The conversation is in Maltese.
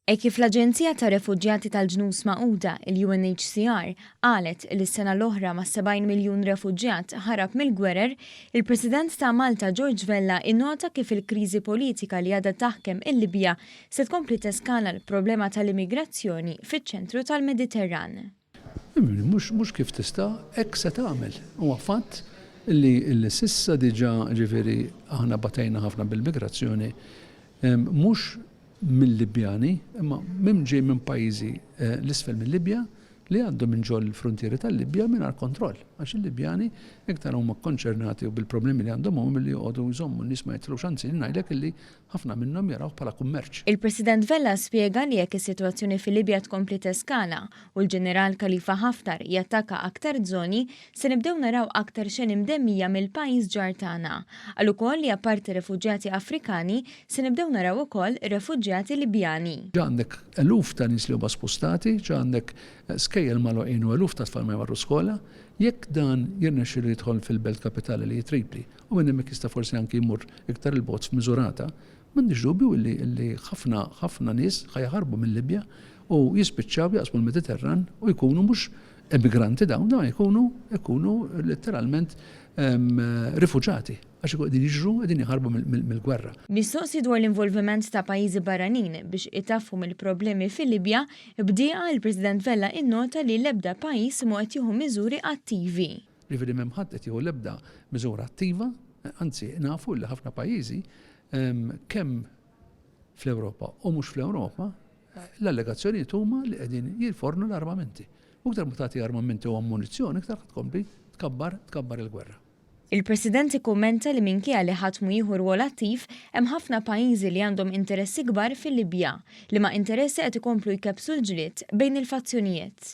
Hekk kif l-Aġenzija tar-Refuġjati tal-Ġnus Magħquda, il-UNHCR, qalet li s-sena l-oħra ma' 70 miljun refuġjat ħarab mill-gwerer, il-President ta' Malta George Vella innota kif il-kriżi politika li għadha taħkem il-Libja se tkompli teskala l-problema tal-immigrazzjoni fiċ-ċentru tal-Mediterran. Mhux mhux kif tista', hekk se tagħmel. Huwa fatt li li s'issa diġà ġifieri aħna batejna ħafna bil-migrazzjoni mhux mil-Libjani imma minn ġej minn pajjiżi l isfel mil-Libja li jgħaddu minn ġol fruntieri tal-Libja mingħajr kontroll għax il-Libjani iktar huma kkonċernati u bil-problemi li għandhom huma milli joqogħdu jżommu n-nies ma jitlux anzi jien ngħidlek illi Ħafna minnhom jarawh bħala kummerċ. Il-President Vella spjega li jekk is-sitwazzjoni fil-Libja tkompli teskala u l-Ġeneral Khalifa Haftar jattakka aktar żoni, se nibdew naraw aktar xeni mdemmija mill-pajjiż ġar tagħna. Qal ukoll li apparti refuġjati Afrikani, se nibdew naraw ukoll refuġjati Libjani. Ġa għandek eluf ta' nies li huma spostati, ġa għandek skejjel magħluqin u eluf ta' tfal ma jmorru skola. Jekk dan jirnexxilu jidħol fil-belt kapitali li hi Tripli u minn hemmhekk jista' forsi anki jmur iktar 'il bogħod f'miżurata, m'għandix dubju li ħafna, ħafna nies ħa jaħarbu mil-Libja u jispiċċaw jaqsmu l-Mediterran u jkunu mhux emigranti dawn, dawn jkunu jkunu letteralment rifuġati għax ikun qegħdin jiġru qegħdin jaħarbu mill-gwerra. Mistoqsi dwar l-involviment ta' pajjiżi barranin biex itaffu mill-problemi fil-Libja, b'dieqa il-President Vella innota li l-ebda pajjiż mhu qed jieħu miżuri attivi. Jiġifieri m'hemm ħadd qed jieħu l-ebda miżura attiva, anzi nafu li ħafna pajjiżi kemm fl-Ewropa u mhux fl-Ewropa l-allegazzjonijiet huma li qegħdin jilfornu l-armamenti. U iktar ma tagħti armamenti u ammunizzjoni iktar ħadd tkompli tkabbar tkabbar il-gwerra. Il-President ikkummenta li minkejja li ħadd mhu jieħu rwol attiv, hemm ħafna pajjiżi li għandhom interessi kbar fil-Libja, liema interessi qed ikomplu jkebbsu l-ġlied bejn il-fazzjonijiet.